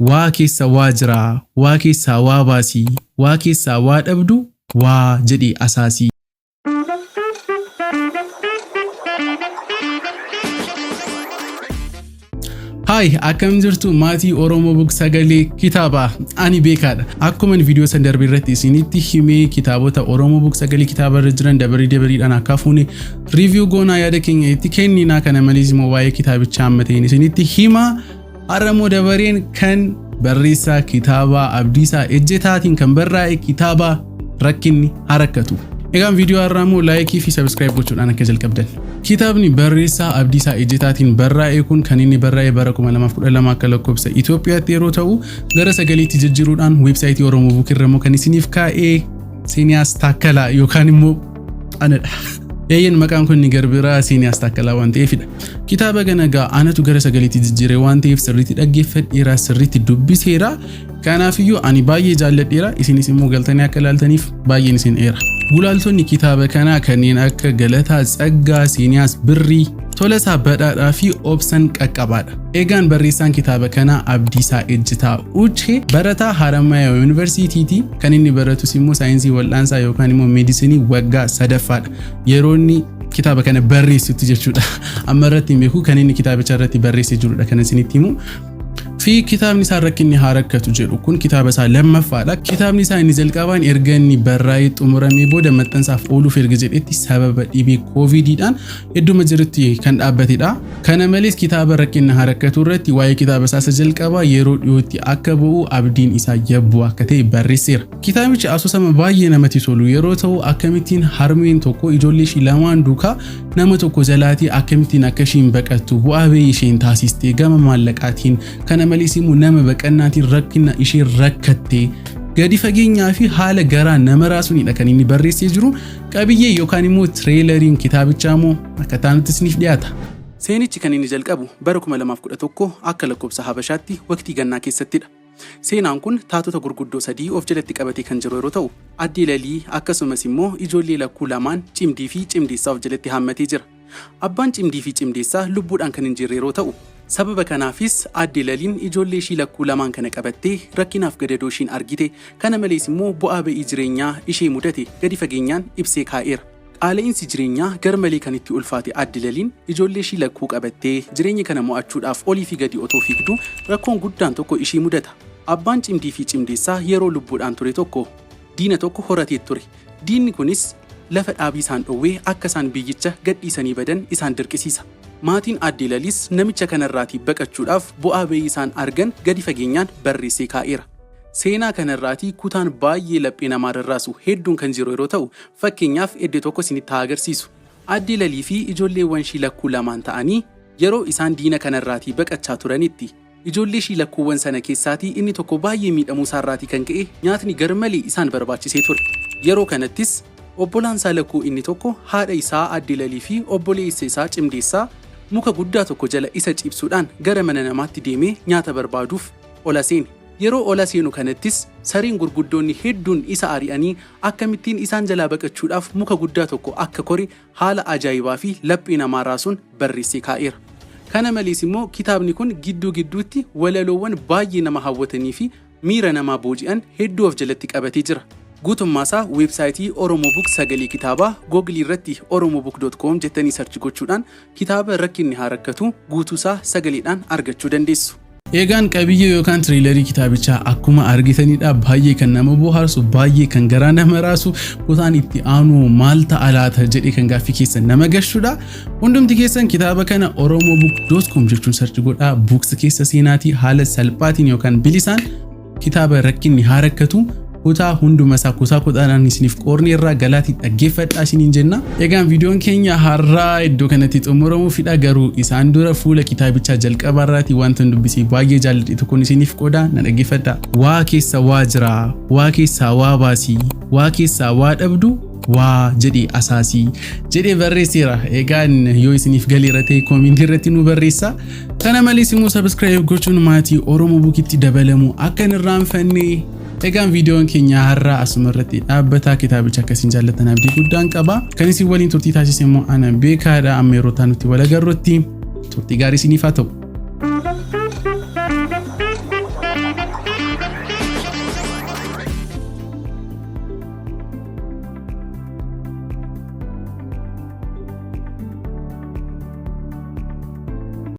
Waa keessa waa jiraa waa keessaa waa baasii waa keessaa waa dhabdu waa jedhii asaasii. Hi, akkam jirtu maatii Oromoo Bug Sagalee Kitaabaa. Ani beekaadha. Akkuman viidiyoo san darbe irratti isinitti himee kitaabota Oromoo Bug Sagalee Kitaabaa irra jiran dabarii dabariidhaan akka fuune riiviyuu goonaa yaada keenya itti kenninaa kana malees immoo waa'ee kitaabichaa amma ta'een isinitti himaa. Har'a immoo dabareen kan barreessaa kitaabaa Abdiisaa Ejjetaatiin kan barraa'e kitaaba rakkinni harakkatu. Egaan viidiyoo har'aa immoo laayikii fi sabiskiraayib gochuudhaan akka jalqabdan. Kitaabni barreessaa Abdiisaa Ejjetaatiin barraa'e kun kan inni barraa'e bara 2012 akka lakkoofsa Itoophiyaatti yeroo ta'u gara sagaliitti jijjiiruudhaan weebsaayitii Oromoo Buuk irra immoo kan isiniif kaa'ee Seeniyaas Taakkalaa yookaan immoo anadha. Eeyyen maqaan kun inni garbiraa Siiniyaas Taakkalaa waan ta'eefidha. Kitaaba ganagaa anatu gara sagaleetti jijjiire waan ta'eef sirriitti dhaggeeffadheera, sirriitti dubbiseera. Kanaafiyyuu ani baay'ee jaalladheera, isinis immoo galtanii akka ilaaltaniif baay'een isin eera. Gulaaltonni kitaaba kanaa kanneen akka Galataa Tsaggaa, Siiniyaas Birrii, Tolasaa Badhaadhaa fi Obsan Qaqqabaadha. Eegaan barreessaan kitaaba kanaa Abdiisaa Ejjitaa Uche barataa Haramaya Yuunivarsiitiiti. Kan inni baratus immoo saayinsii wal'aansaa yookaan immoo meedisinii waggaa sadaffaadha. Yeroo inni kitaaba kana barreessutti jechuudha. Amma irratti hin beeku kan inni kitaabicha irratti barreessee jirudha kan isinitti himu. Fi kitaabni isaa rakkinni haa rakkatu jedhu kun kitaaba isaa lammaffaadha. Kitaabni isaa inni jalqabaan erga inni barraa'ee xumuramee booda maxxansaaf ooluuf erga jedhetti sababa dhibee kooviidiidhaan idduma jirutti kan dhaabbatedha. Kana malees kitaaba Rakkina Haa Rakkatu irratti waa'ee kitaaba isaa isa jalqabaa yeroo dhiyootti akka ba'u abdiin isaa yabbuu akka ta'e barreesseera. Kitaabichi asoosama baay'ee namatti tolu yeroo ta'u akkamittiin harmeen tokko ijoollee ishii lamaan duukaa nama tokko jalaatii akkamittiin akka ishiin baqattu bu'aa ba'ii isheen taasiste gama maallaqaatiin kana malees immoo nama baqannaatiin rakkina isheen rakkatte gadi fageenyaa fi haala garaa nama raasuunidha kan inni barreessee jiru. Qabiyyee yookaan immoo tireelariin kitaabichaa immoo akka taanutti isiniif dhiyaata. Seenichi kan inni jalqabu bara 2011 akka lakkoofsa Habashaatti waqtii gannaa keessattidha. Seenaan kun taatota gurguddoo sadii of jalatti qabatee kan jiru yeroo ta'u, addee Lalii akkasumas immoo ijoollee lakkuu lamaan Cimdii fi Cimdeessaa of jalatti haammatee jira. Abbaan cimdii fi cimdeessaa lubbuudhaan kan hin jirre yeroo ta'u, sababa kanaafis aadde Laliin ijoollee ishii lakkuu lamaan kana qabattee rakkinaaf gadadoo ishiin argite, kana malees immoo bu'aa ba'ii jireenyaa ishee mudate gadi fageenyaan ibsee kaa'eera. Qaala'iinsi jireenyaa garmalee kan itti ulfaate aadde Laliin ijoollee ishii lakkuu qabattee jireenya kana mo'achuudhaaf olii fi gadi otoo fiigduu rakkoon guddaan tokko ishii mudata. Abbaan cimdii fi cimdeessaa yeroo lubbuudhaan ture tokko diina tokko horateet ture. Diinni kunis. lafa dhaabii isaan dhowwee akka isaan biyyicha gadhiisanii badan isaan dirqisiisa. Maatiin Aaddee Laliis namicha kanarraatii baqachuudhaaf bu'aa ba'ii isaan argan gadi fageenyaan barreessee kaa'eera. Seenaa kanarraatii kutaan baay'ee laphee namaa rarraasu hedduun kan jiru yeroo ta'u, fakkeenyaaf edde tokko isinitti haa agarsiisu. Aaddee Laliifi ijoolleewwanshii lakkuu lamaan ta'anii yeroo isaan diina kanarraatii baqachaa turanitti, Ijoollee ishii lakkuuwwan sana keessaatii inni tokko baay'ee miidhamuu isaa irraatii kan ka'e nyaatni garmalee isaan barbaachisee ture. Yeroo kanattis obbolaan isaa lakkuu inni tokko haadha isaa Aadde Lalii fi obboleessa isaa Cimdeessaa muka guddaa tokko jala isa ciibsuudhaan gara mana namaatti deemee nyaata barbaaduuf ola seene. Yeroo ola seenu kanattis sareen gurguddoonni hedduun isa ari'anii akkamittiin isaan jalaa baqachuudhaaf muka guddaa tokko akka kore haala ajaa'ibaa fi laphee namaa raasuun barreessee kaa'eera. Kana malees immoo kitaabni kun gidduu gidduutti walaloowwan baay'ee nama hawwatanii fi miira namaa booji'an hedduu of jalatti qabatee jira. Guutummaa isaa weebsaayitii Oromobook Sagalee Kitaabaa Google irratti oromobook.com jettanii search gochuudhaan kitaaba Rakkinni Haa Rakkatu guutuu isaa sagaleedhaan argachuu dandeessu. Eegaan qabiyyee yookaan tiriilarii kitaabichaa akkuma argitanidha baay'ee kan nama bohaarsu baay'ee kan garaa nama raasu kutaan itti aanu maal ta'a laata jedhee kan gaaffii keessa nama gashudha hundumti keessan kitaaba kana oromobook.com jechuun sarchi godhaa buuks keessa seenaatii haala salphaatiin yookaan bilisaan Kitaaba rakkinni haa rakkatu kutaa hunduma isaa kutaa kudhaadhaan isiniif qoorni irraa galaati dhaggeeffadhaa isiniin jenna. Egaan viidiyoon keenya har'aa iddoo kanatti xumuramuu fidha garuu isaan dura fuula kitaabichaa jalqabaa irraati wanta dubbisee baay'ee jaalladhe tokkoon isiniif qooda na dhaggeeffadhaa. Waa keessa waa jira, waa keessaa waa baasi, waa keessaa waa dhabdu waa jedhee asaasi jedhee barreesseera. Egaan yoo isiniif galeera ta'e koomentii irratti nu barreessaa. Kana malees immoo subscribe gochuun maatii Oromoo Bukitti dabalamu akka hin irraanfanne Egaan viidiyoon keenya har'aa asuma irratti dhaabbataa kitaabicha akka isin jaallatan abdii guddaan qaba. Kan isin waliin turtii taasise immoo ana beekaadha amma yeroo ta'an nutti wal agarrutti turtii gaarii isiniif haa ta'u.